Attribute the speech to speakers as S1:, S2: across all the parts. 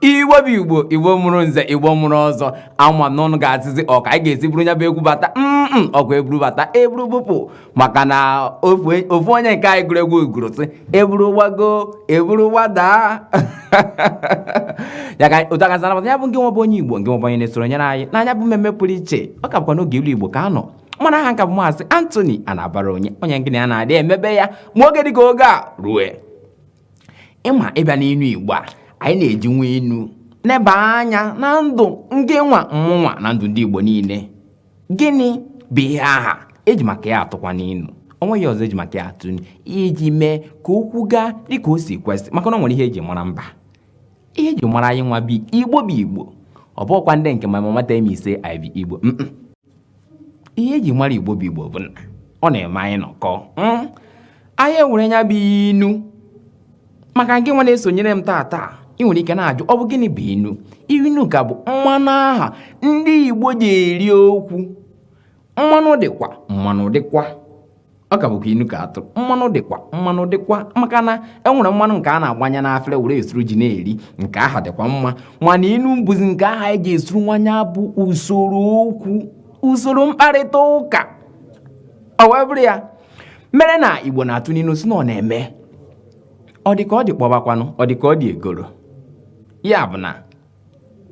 S1: igbo bụ igbo igbo mụrụ nze igbo mụrụ ọzọ ama m na unu ga-asịzi ọ ka anyị ga-esi buru nya bụ egwu bata mm, mm, ọkwa eburu bata eburu bupụ maka na ofu onye nke anyị gụrụ egwu gụrụ sị eburu gbago eburu gbadaa ya ka otu a ka esi anabata ya bụ ngị nwa bụ onye igbo ngị nwa bụ onye na-esonyere anyị na nya bụ mmemme pụrụ iche ọ ka bụkwa n'oge ilu igbo ka a nọ mana aha m ka bụ maazị Anthony Anabara onye onye ngị na ya na-adị emebe ya ma oge dịka oge a rue ị ma ị bịa n'inu igbo a anyị na-eji nwa inu neba anya na ndụ ngị nwa mụnwa na ndụ ndị igbo niile gịnị bụ ihe aha eji maka ya atụkwanụ inu onweghị ihe ọzọ eji maka ya atụ iji mee ka okwu gaa dịka o si kwesị maka na ọ nwere ihe eji mara mba ihe eji mara anyị nwa bụ igbo bụ igbo ọ bụkwa ndị nke my mama tell me say I be igbo ihe eji mara igbo bụ igbo bụ na ọ na-eme anyị nọkọ hmm? anyị ewere nya bụ inu maka gị nwa na-esonyere m taa taa ị nwere ike na-ajụ ọ bụ gịnị bụ inu inu ka bụ mmanụ aha ndị Igbo ji eri okwu mmanụ dịkwa mmanụ dịkwa ọ ka bụkwa inu ka atụ mmanụ dịkwa mmanụ dịkwa maka na e nwere mmanụ nke a na-agbanye n'afere were esuru ji na-eri nke aha dịkwa mma mana inu bụzi nke aha eji esuru nwa nya bụ usoro okwu usoro mkparịta ụka ọ wee bụrụ ya mere na igbo na-atụ n'inu sị na ọ na-eme ọ dị ka ọ dị kpọbakwanụ ọ dị ka ọ dị egoro ya bụ na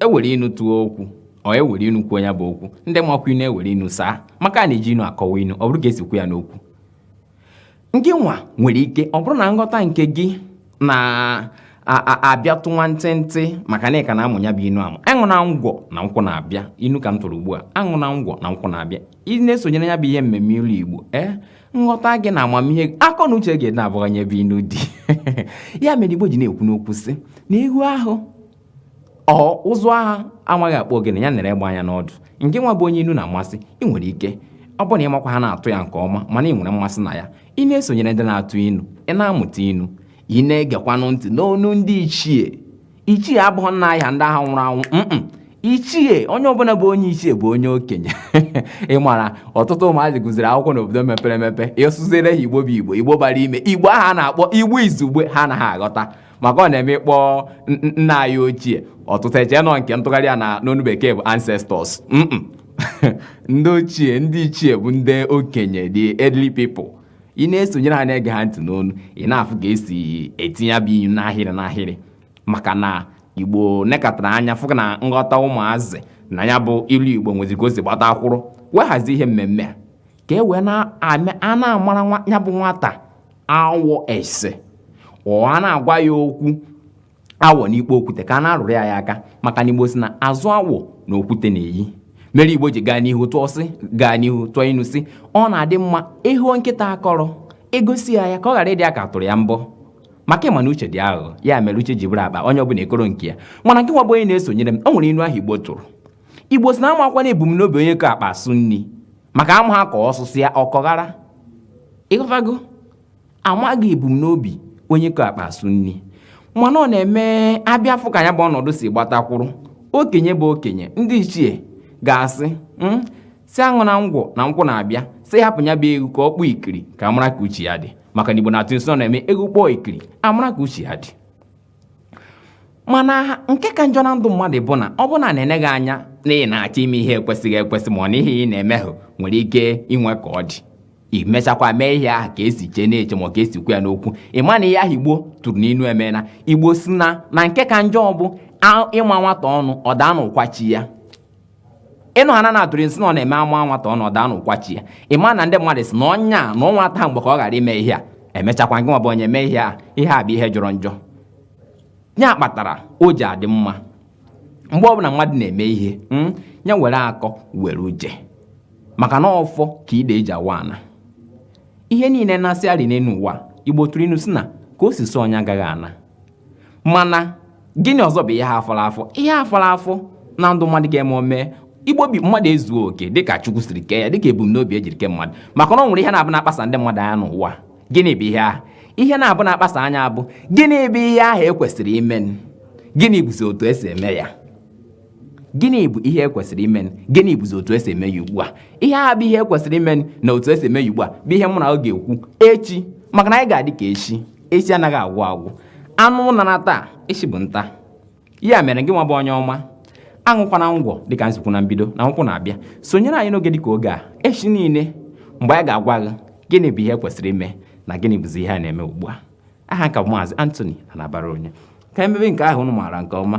S1: ewere inu tụọ okwu or ewere inu kwuo ya bụ okwu ndị makwa inu ewere inu saa maka na eji inu akọwa inu ọ bụrụ ka esi kwu ya n'okwu ngị nwa nwere ike ọ bụrụ na nghọta nke gị na-abịatụ nwa ntịntị maka na ị ka na-amụ ya bụ inu amụ aṅụna ngwọ na nkwụ na-abịa inu ka m tụrụ ugbu a aṅụna ngwọ na nkwụ na-abịa ị na-esonyere ya bụ ihe mmemme ilu igbo ee eh? nghọta gị na amamihe akọ na uche gị na-abụghanye ebe inu dị ya mere igbo ji na-ekwu n'okwu sị na ị hụ ahụ ụzụ aha amaghị akpụ ogene ya nere egbe anya n'ọdụ ngị nwa bụ onye inu na-amasị ị nwere ike ọ bụrụ na ị makwa ha na-atụ ya nke ọma mana ị nwere mmasị na ya ị na-esonyere ndị na-atụ inu ị na-amụta inu ị na-egekwanụ ntị n'onu ndị ichie ichie abụghị nna anyị ha ndị aha nwụrụ anwụ ichie onye ọbụla bụ onye ichie bụ onye okenye ị mara ọtụtụ ụmụazị gụziri akwụkwọ n'obodo mepere emepe ị sụziere ha igbo bụ igbo igbo bara ime igbo aha a na-akpọ igbo izugbe ha anaghị aghọta maka ọ na-eme ị kpọọ nna anyị ochie ọtụtụ eche na ọ nke ntụgharị ya na n'onu bekee bụ ancestors ndị ochie ndị ichie bụ ndị okenye the elderly people ị na-esonyere ha na-ege ha ntị n'ọnụ ị na-afụ ka esi etinye ya bụ inu n'ahịrị n'ahịrị maka na igbo nekatara anya fụ na nghọta ụmụazị na ya bụ ilu igbo nwezi ka o si gbatakwụrụ wee hazie ihe mmemme a ka e wee na-amara ya bụ nwata awọ ese ọ a na-agwa ya okwu awọ n'ikpo okwute ka a na-arụrụ ya aka maka na igbo sị na azụ awọ na okwute na-eyi mere igbo ji gaa n'ihu tụọ sị gaa n'ihu tụọ inu sị ọ na-adị mma ịhụ nkịta akọrọ egosi ya ya ka ọ ghara ịdị ya ka a tụrụ ya mbọ maka ịma na uche dị aghụghọ ya mere uche ji bụrụ akpa onye ọbụla ekoro nke ya mana gị nwa bụ onye na-esonyere m o nwere inu ahụ igbo tụrụ igbo sị na amakwa na ebumnobi onye ko akpa asụ nri maka amaha ka ọ sụsịa ọ kọghara ịghọtago amaghị ebumnobi onye ko akpa asụ nri mana ọ na-eme a bịa fụ ka ya bụ ọnọdụ si gbatakwụrụ okenye bụ okenye ndị ichie ga-asị hmm, sị aṅụna ngwọ na nkwụ na-abịa sị hapụ ya bụ egwu ka ọ kpọọ ikiri ka amara ka uche ya dị maka na igbo na-atụ inu sị ọ na-eme egwu kpọọ ikiri amara ka uche ya dị mana nke ka njọ na ndụ mmadụ bụ na ọ bụ na a na-ene gị anya na ị na-achọ ime ihe ekwesịghị ekwesị ma ọ na ihe ị na-eme ahụ nwere ike inwe ka ọ dị i mechakwa mee ihe ahụ ka esi chee n'uche ma ọ ka esi kwuo ya n'okwu ị ma na ihe ahụ igbo tụrụ n'inu emena igbo sị na na nke ka njọ bụ a- ịma nwata ọnụ ọ daa n'ụkwa chi ya inu ha na-atụrụ m sị na ọ na-eme ama nwata ọnụ ọ daa n'ụkwa chi ya ị ma na ndị mmadụ sị na onye a na ọnwa taa mgbe ka ọ ghara ime ihe a emechakwa gị nwa bụ onye mee ihe a ihe a bụ ihe jọrọ njọ ya kpatara o ji adị mma mgbe ọbụla mmadụ na-eme ihe mm, ya were akọ were uche maka na ọfọ ka ide ji awa ana ihe niile na-asị arị n'elu ụwa igbo tụrụ inu sị na ka o si sọ onye agaghị ana mana gịnị ọzọ bụ ihe ahụ fọrọ afọ ihe fọrọ afọ na ndụ mmadụ ga-eme ọ mee ibi obi mmadụ ezuo oke dịka chukwu siri kee ya dịka ebumnobi ejiri kee mmadụ maka na ọ nwere ihe na-abụ na-akpasa ndị mmadụ anya n'ụwa gịnị bụ ihe ahụ ihe na-abụ na-akpasa anya abụ gịnị bụ ihe ahụ ekwesịrị ime gịnị bụzi otu esi eme ya gịnị bụ ihe ekwesịrị ime gịnị bụzi otu esi eme ya ugbu a ihe a bụ ihe ekwesịrị ime na otu esi eme ya ugbu a bụ ihe mụ na unu ga-ekwu echi maka na anyị ga-adị ka echi echi anaghị agwụ agwụ anụ naa taa echi bụ nta ya mere gị nwa bụ onye ọma aṅụkwana ngwọ dịka m si kwuo na mbido na nkwụ na-abịa sonyere anyị n'oge dịka oge a echi niile mgbe anyị ga-agwa gị gịnị bụ ihe kwesịrị ime na gịnị bụzi ihe a na-eme ugbu a aha m ka bụ maazị Anthony Anabaraonye ka emebe nke ahụ unu maara nke ọma